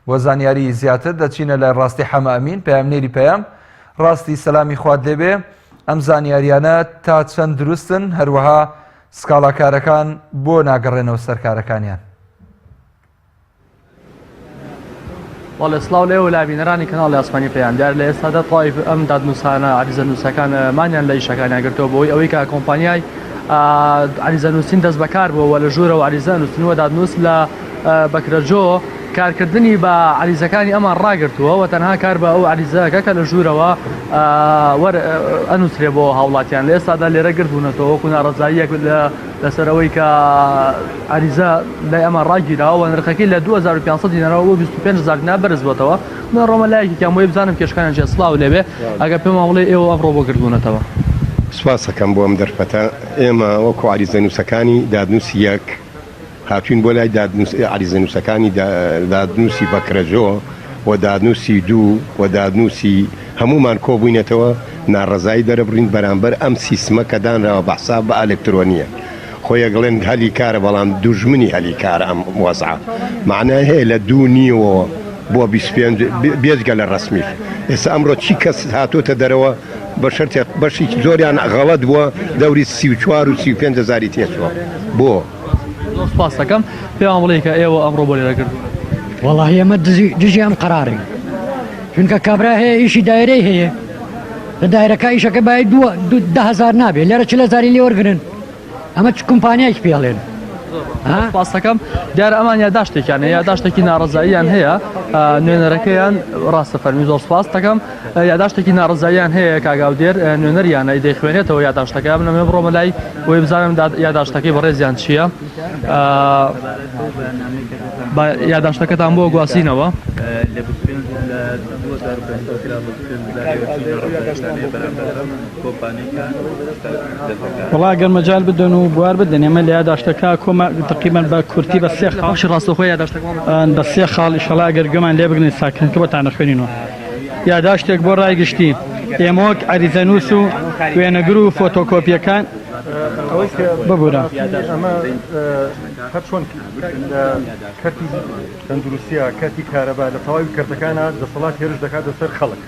بۆ زانیاریی زیاتر دەچینە لای ڕاستی حەمە ئەمین، پەیامنێری پەیام. ڕاستی سەلامی خوات لێ بێ، ئەم زانیارییانە تا چەند دروستن، هەروەها سکاڵاکارەکان بۆ ناگەڕێنەوە سەر کارەکانیان؟ بەڵێ سلااو لێ و لابینەرانی کەناڵی ئاسمانی پێیان دیار لە ئێستادا تایف ئەم دادنووسانە عریزە نووسەکان مانیان لە ئیشەکانیان گرتەوە بۆی ئەوەی کە کۆمپانیای عریزە نووسین دەست بەکار بووەوە لە ژوورەوە عریزە نووسنوە دادنووس لە بەکرەجۆ کارکردنی بە عەریزەکانی ئەمان ڕاگرتووە و تەنها کار بە ئەو عەریزە دەکات کە لە ژوورەوە ئەنووسرێت بۆ هاوڵاتیان لە ئێستادا لێرە گردبوونەتەوە وەکو ناڕەزاییەک لەسەر ئەوەی کە عەریزە لای ئەمان ڕاگیراوە و نرخەکەی لە 2500 دینارەوە بۆ 25000 دینار بەرز بۆتەوە من ڕۆمە لایەکێکیان بۆی بزانم کێشکانیان چیە سڵاو لێبێ ئەگەر پێمان بڵێ ئێوە ئەمڕۆ بۆ گردبوونەتەوە سوپاستەکەم بۆ ئەم دەرفەتە ئێمە وەکو عەریزەنووسەکانی دادنووسی یەک هاتووین بۆ لای دادنووس عەریزەنووسەکانی دادنووسی بەکرەجۆ و دادنووسی دوو و دادنووسی هەموومان کۆبووینەتەوە ناڕەزایی دەربڕین بەرامبەر ئەم سیستمە کە دانراوە بە حساب بە ئەلکترۆنیە خۆ یەکڵێن هەلی کارە بەڵام دوژمنی هەلی کارە ئەم وەزعە مەعنای هەیە لە دوو نیوەوە بۆ بیست پێنج بێجگە لە ڕەسمیش ئێستا ئەمڕۆ چی کەس هاتۆتە دەرەوە بە شەرتێک بەشی زۆریان غەڵەت بووە دەوری سی و چوار و سی و پێنج هەزاری تێچووە بۆ؟ زۆر سوپاست دەکەم پێمان بڵێ کە ئێوە ئەمڕۆ بۆ لێرە کردوون. وەڵاهی ئێمە دزی دژی ئەم قەرارەین چونکە کابرا هەیە ئیشی دایرەی هەیە لە دایرەکە ئیشەکە بای دووە دو دە هەزار نابێ لێرە چل هەزاری لێ وەرگرن. ئەمە چ کمپانیایکی پێڵێن پاسەکەم دیارە ئەمان یاداشتێکیان یاداشتێکی ناڕزاییان هەیە نوێنەرەکەیان ڕاستە فەرمی زۆر سپاس دەکەم یاداشتێکی ناڕزاییان هەیە کاگااو دێر نوێنەریانە دەیخوێنێتەوە یاداشتەکە من ئەمێ بڕۆمە لای وی بزانم یاداشتەکەی بەڕێزیان چییە یاداشتەکەتان بۆ گواسینەوە لە کۆمپانیەکان دەتەکات. وەڵا ئەگەر مەجال بدەن و بوار بدەن ئێمە لە یاداشتەکە کۆمە تەقریبەن بە کورتی بە سێ خاڵ. بەخشی ڕاستەوخۆ یاداشتەکمان بۆ بخوێنەوە. بە سێ خاڵ ئیشەڵا ئەگەر گوێمان لێ بگرن ساکردنەکە بۆتان ئەخوێنینەوە. یاداشتێک بۆ ڕای گشتی. ئێمە وەک عەریزەنووس و وێنەگر و فۆتۆکۆپیەکان. ئەوەی کە ببورە. ئەمە هەر چۆن لە کەرتی تەندروستیا کەرتی کارەبا لە تەواوی کەرتەکانا دەسەڵات هێرش دەکاتە سەر خەڵک.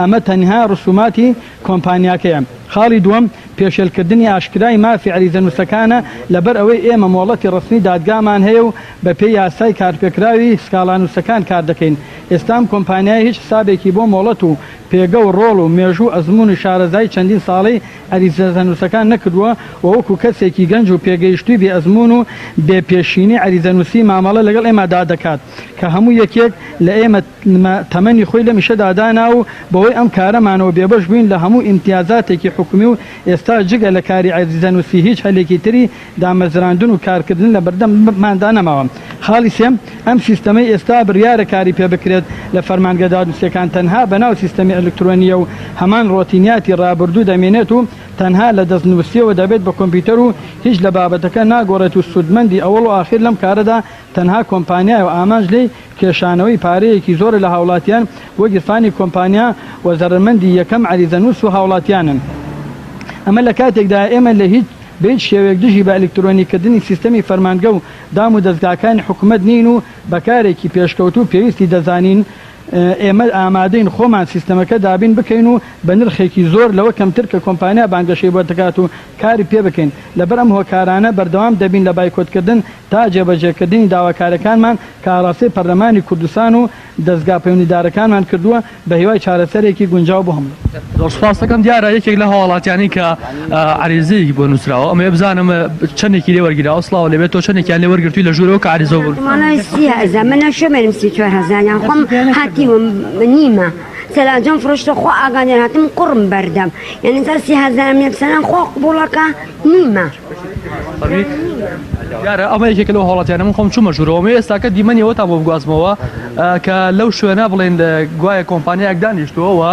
ئەمە تەنها رسوماتی کۆمپانیاکەیە. خاڵی دووەم، پێشێلکردنی ئاشکرای مافی عەریزەنووسەکانە، لەبەر ئەوەی ئێمە مۆڵەتی رەسمی دادگامان هەیە و بەپێی یاسای کارپێکراوی سکاڵانووسەکان کار دەکەین. ئێستا ئەم کۆمپانیایە هیچ حسابێکی بۆ مۆڵەت و پێگە و رۆڵ و مێژوو و ئەزموون و شارەزایی چەندین ساڵەی عەریزەنووسەکان نەکردووە و وەکو کەسێکی گەنج و پێگەیشتووی بێ ئەزموون و بێ پێشینەی عەریزەنووسی مامەڵە لەگەڵ ئێمەدا دەکات کە هەموو یەکێک لە ئێمە نمە تەمەنی خۆی لەم ئیشەدا دانا و بەهۆی ئەم کارەمانەوە بێبەش بووین لە هەموو ئیمتیازاتێکی حکومی و ئێستاش جگە لە کاری عەزیزە نووسی هیچ هەلێکی تری دامەزراندن و کارکردن لە بەردەمماندا نەماوە. خاڵی سێ، ئەم سیستەمەی ئێستا بریارە کاری پێ بکرێت لە فەرمانگە دادنووسیەکان تەنها بە ناو سیستەمی ئەلکترۆنیە و هەمان ڕۆتینیاتی ڕابردوو دەمێنێت و تەنها لە دەستنووسیەوە دەبێت بە کۆمپیوتەر و هیچ لە بابەتەکە ناگۆڕێت و سوودمەندی ئەوەڵ و ئاخیر لەم کارەدا تەنها کۆمپانیایە و ئامانج لێی کێشانەوەی پارەیەکی زۆرە لە هاوڵاتیان بۆ گیرفانی کۆمپانیا و زەرەرمەندی یەکەم عەریزەنووس و هاوڵاتیانن. ئەمە لە کاتێکدایە ئێمە لە هیچ بە هیچ شێوەیەک دژی بە ئەلیکترۆنی کردنی سیستەمی فەرمانگە و دام و دەزگاکانی حکومەت نین و بە کارێکی پێشکەوتوو پێویستی دەزانین. ئێمە ئامادەین خۆمان سیستەمەکە دابین بکەین و بە نرخێکی زۆر لەوە کەمتر کە کۆمپانیا بانگەشەی بۆ دەکات و کاری پێ بکەین. لەبەر ئەم هۆکارانە بەردەوام دەبین لە بایکۆت کردن تا جێبەجێکردنی داواکاریەکانمان کە ئاڕاستەی پەرلەمانی کوردستان و دەزگا پەیوەندیدارەکانمان کردووە بە هیوای چارەسەرێکی گونجاو بۆ هەمووی. زۆر سوپاست دەکەم، دیارە یەکێک لە هاوڵاتیانی کە عەریزەیەکی بۆ نوسراوە ئەمەوێ بزانم چەندێکی لێ وەرگیراوە؟ سڵاو لێبێت تۆ چەندێکیان لێ وەرگرتووی لە ژوورەوە کە عەریزە بۆ نوسراوە؟ فەرمی دیارە ئەمە یەکێکە لەو هەوڵاتیانە من خۆم چوومە ژوورەوە مێ ئێستاکە دیمەنیەوە تا بۆ بگوازمەوە کە لەو شوێنە بڵێن گوایە کۆمپانیایەک دانیشتووەوە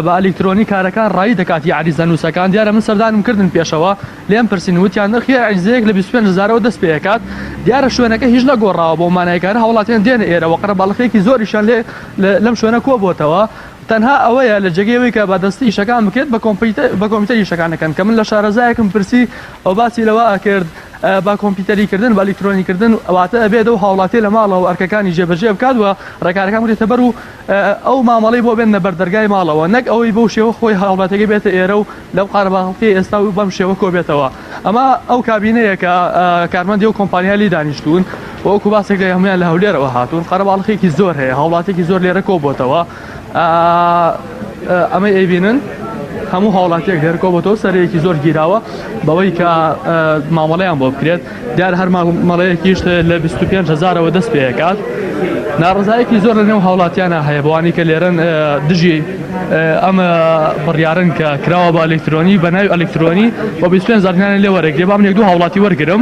بە ئەلیکترۆنی کارەکان ڕایی دەکات یا عریزە نووسەکان دیارە من سەردانم کردن پێشەوە لێم پرسین وتیان نرخی عریزەیەک لە 25 هزارەوە دەست پێکات دیارە شوێنەکە هیچ نەگۆڕاوە بۆ مانایکارە هەوڵاتیان دێنە ئێرەوە قەرە باڵخێکی زۆریشان لێ لەم شوێنە کۆ بۆتەوە تەنها ئەوەیە لە جێگەی ئەوەی کە بادەستی ئیشەکان بکرێت بە کۆمپیوتەر بە کۆمپیوتەر ئیشەکان دەکەن کە من لە شارەزایەکم پرسی ئەو باسی لەوە ئەکرد با کۆمپیوتەری کردن بە ئەلیکترۆنی کردن واتە ئەبێت و هاوڵاتی لە ماڵەوە ئەرکەکانی جێبەجێ بکات و ڕێکارەکان بکرێتە بەر و ئەو مامەڵەی بۆ بێنە بەر دەرگای ماڵەوە نەک ئەوەی بەو شێوە خۆی هاوڵاتەکەی بێتە ئێرە و لەو قارەمانڵقیەی ئێستا و بەم شێوە کۆبێتەوە ئەمە ئەو کابینەیە کە کارمەندی و کۆمپانیا لی دانیشتوون وەکو باسێک لە هەمویان لە هەولێرەوە هاتوون قەرەباڵخێکی زۆر هەیە هاوڵاتێکی زۆر لێرە کۆبتەوە ئەمەی ئەیبینن هەموو هاوڵاتیەک لێرکۆبتەوە سەرەیەکی زۆر گیراوە بەوەی کە مامەڵەیان بۆ بکرێت دیارە هەر مامەڵەیەکیش لە بیست و پێنج هەزارەوە دەست پێکات ناڕزایەکی زۆر لە نێو هاوڵاتیانە هەیە بەوانی کە لێرن دژی ئەم بڕیارن کە کراوە بە ئەلکترۆنی بە ناوی ئەلکترۆنی بە بیست پێنج زارنیانە لێ وەرەێک لێ بام لێک دوو هاوڵاتی وەرگرم